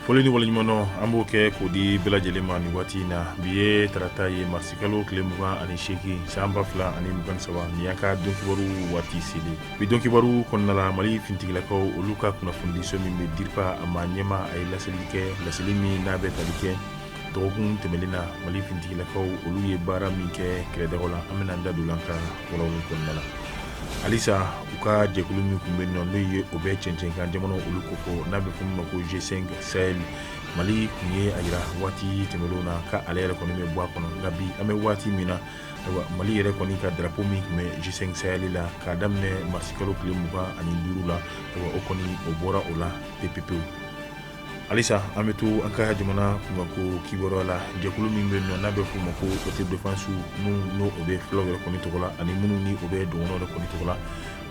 foli ni waleɲumandɔn an b'o kɛ k'o di bɛɛ lajɛlen ma nin waati in na bi ye tarata ye marisikalo tile mugan ani seegin san ba fila ani mugan ni saba nin y'a ka donkibaru waati selen bi don kibaru kɔnɔna la mali fintigilakaw olu ka kunnafonidiso min bɛ dirpa a ma ɲɛmaa ye laseli kɛ laseli min n'a bɛ tali kɛ dɔgɔkun tɛmɛnen na mali fintigilakaw olu ye baara min kɛ kɛlɛdaga la an bɛna da don a la an ka walawalali kɔnɔna la halisa u ka jɛkulu min tun bɛ nɔ n'o ye o bɛ cɛncɛnkan jamana olu kofɔ n'a bɛ f'o ma ko g5 sahel mali tun ye a jira waati tɛmɛnenw na ka ale yɛrɛ kɔni bɛ bɔ a kɔnɔ nka bi an bɛ waati min na mali yɛrɛ kɔni ka darapo min tun bɛ g5 sahel la k'a daminɛ marisikalo tile mugan ani duuru la o kɔni o bɔra o la pepepewu halisa an bɛ to an ka jamana kunkanko kibaruya la jɛkulu min bɛ nɔ n'a bɛ f'u ma ko autodéfensew minnu n'o bɛ fulaw yɛrɛ kɔni tɔgɔ la ani minnu ni o bɛ dɔgɔnɔw yɛrɛ kɔni tɔgɔ la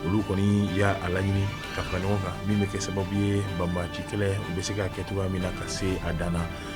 olu kɔni y'a laɲini ka fara ɲɔgɔn kan min bɛ kɛ sababu ye banbaci kɛlɛ u bɛ se k'a kɛ cogoya min na ka se a dan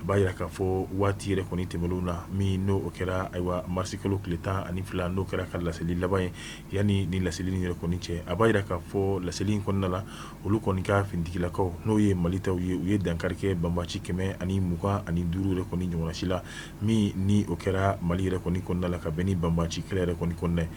a b'a jira k'a fɔ waati yɛrɛ kɔni tɛmɛnen na min n'o kɛra ayiwa marisi kalo tile tan ani fila n'o kɛra u ka laseli laban ye yanni ni laseli in yɛrɛ kɔni cɛ a b'a jira k'a fɔ laseli in kɔnɔna la olu kɔni ka fintigilakaw n'o ye mali taw ye u ye dankari kɛ banbaci kɛmɛ ani mugan ani duuru yɛrɛ kɔni ɲɔgɔnsi la min ni o kɛra mali yɛrɛ kɔni kɔnɔna la ka bɛn ni banbaci kɛlɛ yɛrɛ kɔni kɔnɔna ye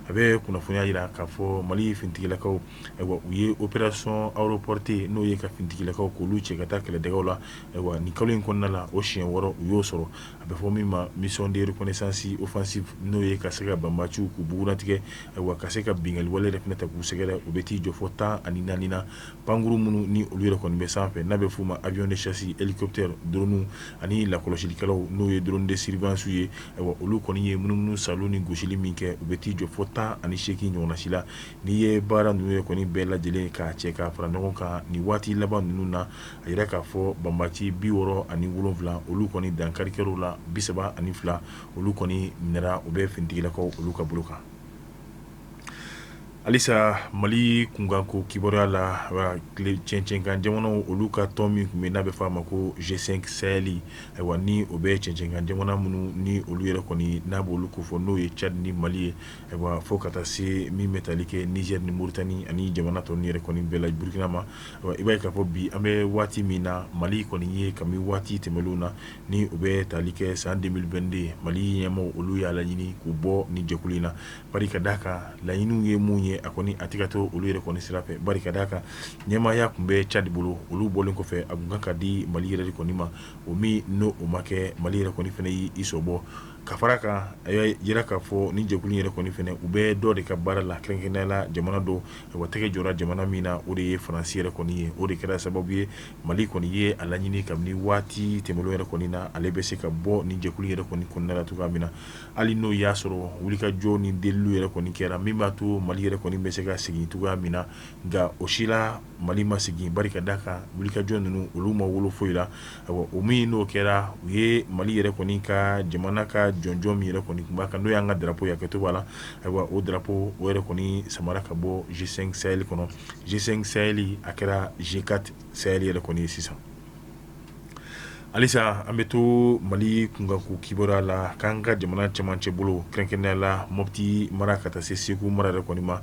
a bɛ kunnafoniya jira k'a fɔ mali fintigilakaw u ye opération aéroportée n'o ye ka fintigilakaw k'olu cɛ ka taa kɛlɛdagaw la Ayiwa nin kalo in kɔnɔna la o siɲɛ wɔɔrɔ u y'o sɔrɔ a bɛ fɔ min ma mission de reconnaissance offensive n'o ye ka se ka banbaciw k'u bugunnatigɛ ayiwa ka se ka binkanli wale yɛrɛ fana ta k'u sɛgɛrɛ u bɛ t'i jɔ fo tan ani naani na pankurun minnu ni olu yɛrɛ kɔni bɛ sanfɛ n'a bɛ f'u ma avion de chasse hélicoptère drone ani lakɔlɔsilikɛlaw n'o ye drone de surveillance ye ayiwa olu kɔni ye munumunusaalo ni gosili min kɛ u bɛ t'i jɔ fo tan ani seegin ɲɔgɔnsi la n'i ye baara ninnu yɛrɛ kɔni bɛɛ lajɛlen k'a cɛ ka fara ɲɔgɔn kan nin waati laban ninnu na a yira k'a fɔ banbaci bi wɔɔrɔ ani wolonwula olu kɔni dankari kɛr'u la bi saba ani fila olu kɔni minɛra u bɛ fintigilakaw olu ka bolo kan halisa mali kunkanko kibaruya la cɛncɛnkan jamanaw olu ka tɔn min tun bɛ n'a bɛ f'a ma ko g5 sahel ayiwa ni o bɛ cɛncɛnkan jamana minnu ni olu yɛrɛ kɔni n'a b'olu kofɔ n'o ye cadi ni mali ye Ayiwa fo ka taa se min bɛ taali kɛ Niger ni Mauritanie ani jamana tɔ ninnu yɛrɛ kɔni bɛɛ la burukina ma i b'a ye k'a fɔ bi an bɛ waati min na mali kɔni ye kabini waati tɛmɛnlenw na ni o bɛ taali kɛ san 2022 mali ɲɛmaaw olu y'a laɲini k'u bɔ ni jɛkulu in na bari ka d'a kan laɲini ye mun ye a kɔni a tɛ ka to olu yɛrɛ kɔni sira fɛ bari ka d'a kan ɲɛmaaya tun bɛ Tchad bolo olu bɔlen kɔfɛ a tun kan ka di mali yɛrɛ kɔni ma o min n'o o ma kɛ mali yɛrɛ kɔni fana y'i sen bɔ ka fara a kan a y'a jira k'a fɔ ni jɛkulu in yɛrɛ kɔni fana u bɛ dɔ de ka baara la kɛrɛnkɛrɛnnenya la jamana dɔ wa tɛgɛ jɔra jamana min na o de ye Faransi yɛrɛ kɔni ye o de kɛra sababu ye Mali kɔni ye a laɲini kabini waati tɛmɛnlenw yɛrɛ kɔni na ale bɛ se ka bɔ nin jɛkulu in yɛrɛ kɔni kɔnɔna la cogoya min na hali n'o y'a sɔrɔ wulikajɔ ni deliliw yɛrɛ kɔni kɛra min b'a to Mali yɛrɛ kɔni bɛ se ka segin cogoya min na nka o si la mali ma segin bari ka d'a kan wulikajɔ ninnu olu ma wolo foyi la ayiwa o min n'o kɛra u ye mali yɛrɛ kɔni ka jamana ka jɔnjɔn min yɛrɛ kɔni tun b'a kan n'o y'an ka drapeau ye hakɛto b'a la ayiwa o drapeau o yɛrɛ kɔni samara ka bɔ G5 Sahel kɔnɔ G5 Sahel a kɛra G4 Sahel yɛrɛ kɔni ye sisan halisa an bɛ to mali kunkanko kibaruya la k'an ka jamana cɛmancɛ bolo kɛrɛnkɛrɛnnenya la moti mara ka taa se segu mara yɛrɛ kɔni ma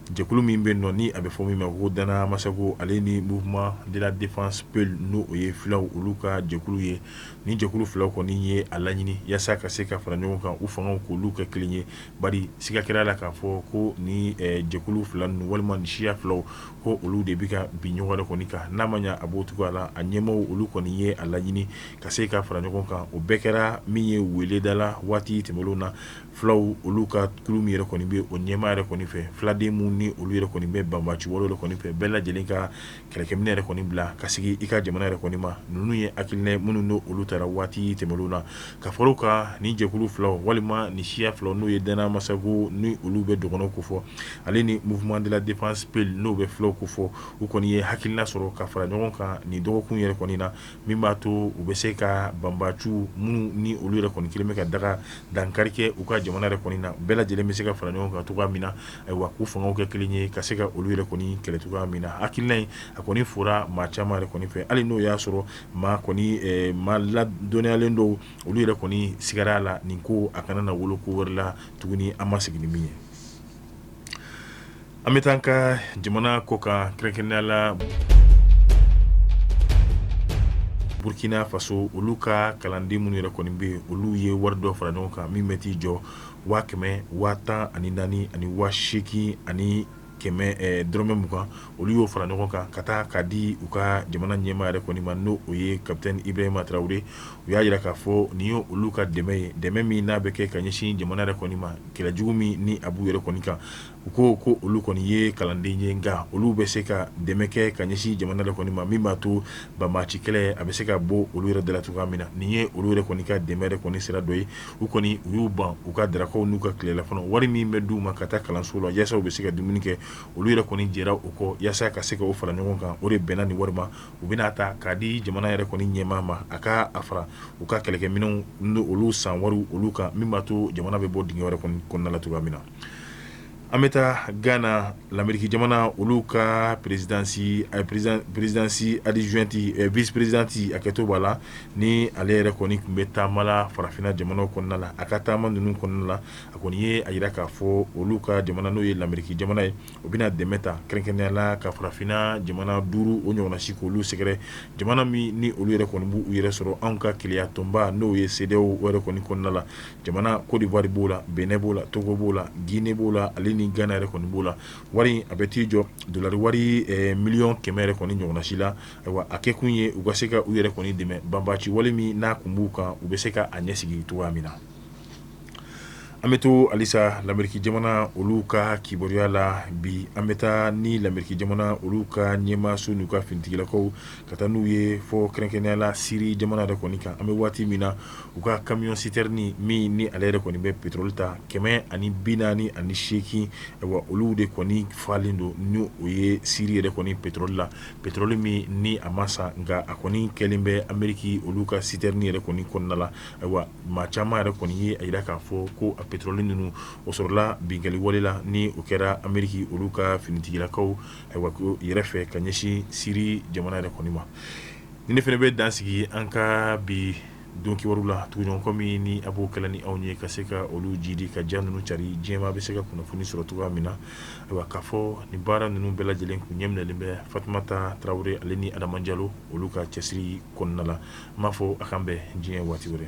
Jɛkulu min bɛ nɔ ni a bɛ fɔ min ma ko Dan Na Amassagou ale ni mouvement de la défense peul n'o o ye fulaw olu ka jɛkulu ye ni jɛkulu filaw kɔni ye a laɲini yaasa ka se ka fara ɲɔgɔn kan u fangaw k'olu kɛ kelen ye bari siga kɛra la k'a fɔ ko ni jɛkulu fila ninnu walima ni siya filaw ko olu de bɛ ka bin ɲɔgɔn yɛrɛ kɔni kan n'a ma ɲɛ a b'o cogoya la a ɲɛmaaw olu kɔni ye a laɲini ka se ka fara ɲɔgɔn kan o bɛɛ kɛra min ye weleda la waati tɛmɛnlenw na fulaw olu ka kulu min yɛrɛ kɔni bɛ o ɲɛmaa yɛrɛ kɔni fɛ filaden minnu ni olu yɛrɛ kɔni bɛ banbaciw olu yɛrɛ kɔni fɛ bɛɛ lajɛlen ka kɛlɛkɛminɛn yɛrɛ kɔni bila ka segin i ka jamana yɛrɛ kɔni ma ninnu ye hakilina minnu n'olu tara waati tɛmɛnlenw na ka fara o kan ni jɛkulu fila walima ni siya fila n'o ye Dan Na Amassagou ni olu bɛ dɔgɔnɔ kofɔ ale ni mouvement de la défense peul n'o bɛ fulaw kofɔ u kɔni ye hakilina sɔrɔ ka fara ɲɔgɔn kan nin dɔgɔkun yɛrɛ kɔni na min b'a to u bɛ se ka banbaciw minnu ni olu yɛrɛ kɔni kɛlen bɛ ka daga dankari kɛ u ka jamana yɛrɛ kɔni na bɛɛ lajɛlen bɛ se ka fara ɲɔgɔn kan cogoya min na ayiwa k'u fangaw kɛ kelen ye ka se ka olu yɛrɛ kɔni kɛlɛ cogoya min na hakilina in a kɔni fora maa caman yɛrɛ kɔni fɛ hali n'o y'a sɔrɔ maa kɔni maa ladɔnniyalen dɔw olu yɛrɛ kɔni sigara a la nin ko a kana na wolo ko wɛrɛ la tuguni an ma sigi ni min ye An bɛ taa an ka jamana kɔkan kɛrɛnkɛrɛnnenya la Burkina faso olu ka kalanden minnu yɛrɛ kɔni bɛ yen, olu ye wari dɔ fara ɲɔgɔn kan min bɛ t'i jɔ 114,820 olu y'o fara ɲɔgɔn kan ka taa k'a di u ka jamana ɲɛmaa yɛrɛ kɔni ma n'o ye capitaine Ibrahima Traore u y'a jira k'a fɔ nin ye olu ka dɛmɛ ye, dɛmɛ min n'a bɛ kɛ ka ɲɛsin jamana yɛrɛ kɔni ma kɛlɛ jugu min ni a b'u yɛrɛ kɔni kan. u ko ko olu kɔni ye kalanden ye nka olu bɛ se ka dɛmɛ kɛ ka ɲɛsin jamana yɛrɛ kɔni ma min b'a to banbaci kɛlɛ a bɛ se ka bɔ olu yɛrɛ da la cogoya min na nin ye olu yɛrɛ kɔni ka dɛmɛ yɛrɛ kɔni sira dɔ ye u kɔni u y'u ban u ka darakaw n'u ka tilelafana wari min bɛ d'u ma ka taa kalanso la yasa u bɛ se ka dumuni kɛ olu yɛrɛ kɔni jɛra u kɔ yasa ka se ka u fara ɲɔgɔn kan o de bɛnna nin wari ma u bɛna a ta k'a di jamana yɛrɛ kɔni ɲɛmaa ma a ka a fara u ka kɛlɛkɛminɛn olu san wari olu kan min b'a to jamana bɛ bɔ dingɛ yɛrɛ kɔni kɔnɔna la cogoya min na An bɛ taa gana lameriki jamana olu ka présidence a présidence adjointe vice-présidente a kɛtɔ b'a la ni ale yɛrɛ kɔni tun bɛ taama la farafinna jamanaw kɔnɔna la a ka taama ninnu kɔnɔna la a kɔni ye a jira k'a fɔ olu ka jamana n'o ye lameriki jamana ye u bɛna dɛmɛ ta kɛrɛnkɛrɛnnenya la ka farafinna jamana duuru o ɲɔgɔnna si k'olu sɛgɛrɛ jamana min ni olu yɛrɛ kɔni b'u yɛrɛ sɔrɔ anw ka kelenyatɔnba n'o ye CEDEAO yɛrɛ kɔni kɔnɔna la jamana kodiwari b'o la benɛn b'o la togo b'o la gine b'o la ale ni gana yɛrɛ kɔni b'o la wari a bɛ t'i jɔ dɔlari wari miliyɔn kɛmɛ yɛrɛ kɔni ɲɔgɔnna si la ayiwa a kɛ kun ye u ka se ka u yɛrɛ kɔni dɛmɛ banbaci wale min n'a kun b'u kan u bɛ se k'a ɲɛ sigi cogoya min na an bɛ to halisa lameriki jamana olu ka kibaruya la bi an bɛ taa ni lameriki jamana olu ka ɲɛmaaso n'u ka finitigilakaw ka taa n'u ye fɔ kɛrɛnkɛrɛnnenya la siri jamana yɛrɛ kɔni kan an bɛ waati min na u ka kamiyɔn siterni min ni ale yɛrɛ kɔni bɛ petoroli ta kɛmɛ ani bi naani ani seegin ayiwa olu de kɔni falen don ni o ye siri yɛrɛ kɔni petoroli la petoroli min ni a ma san nka a kɔni kɛlen bɛ ameriki olu ka siterni yɛrɛ kɔni kɔnɔna la ayiwa maa caman yɛrɛ kɔni ye a jira k'a fɔ ko a petoroli ninnu o sɔrɔla binkanni wale la ni o kɛra ameriki olu ka finitigilakaw ayiwa ko yɛrɛ fɛ ka ɲɛsin siri jamana yɛrɛ kɔni ma ni ne fana bɛ dan sigi an ka bi don kibaru la tuguɲɔgɔnkɔ min ni a b'o kɛla ni anw ye ka se ka olu jidi ka ja ninnu cari diɲɛ maa bɛ se ka kunnafoni sɔrɔ cogoya min na ayiwa k'a fɔ nin baara ninnu bɛɛ lajɛlen tun ɲɛminɛlen bɛ Fatumata Tarawele ale ni Adama Jalo olu ka cɛsiri kɔnɔna la n b'a fɔ a k'an bɛn diɲɛ waati wɛrɛ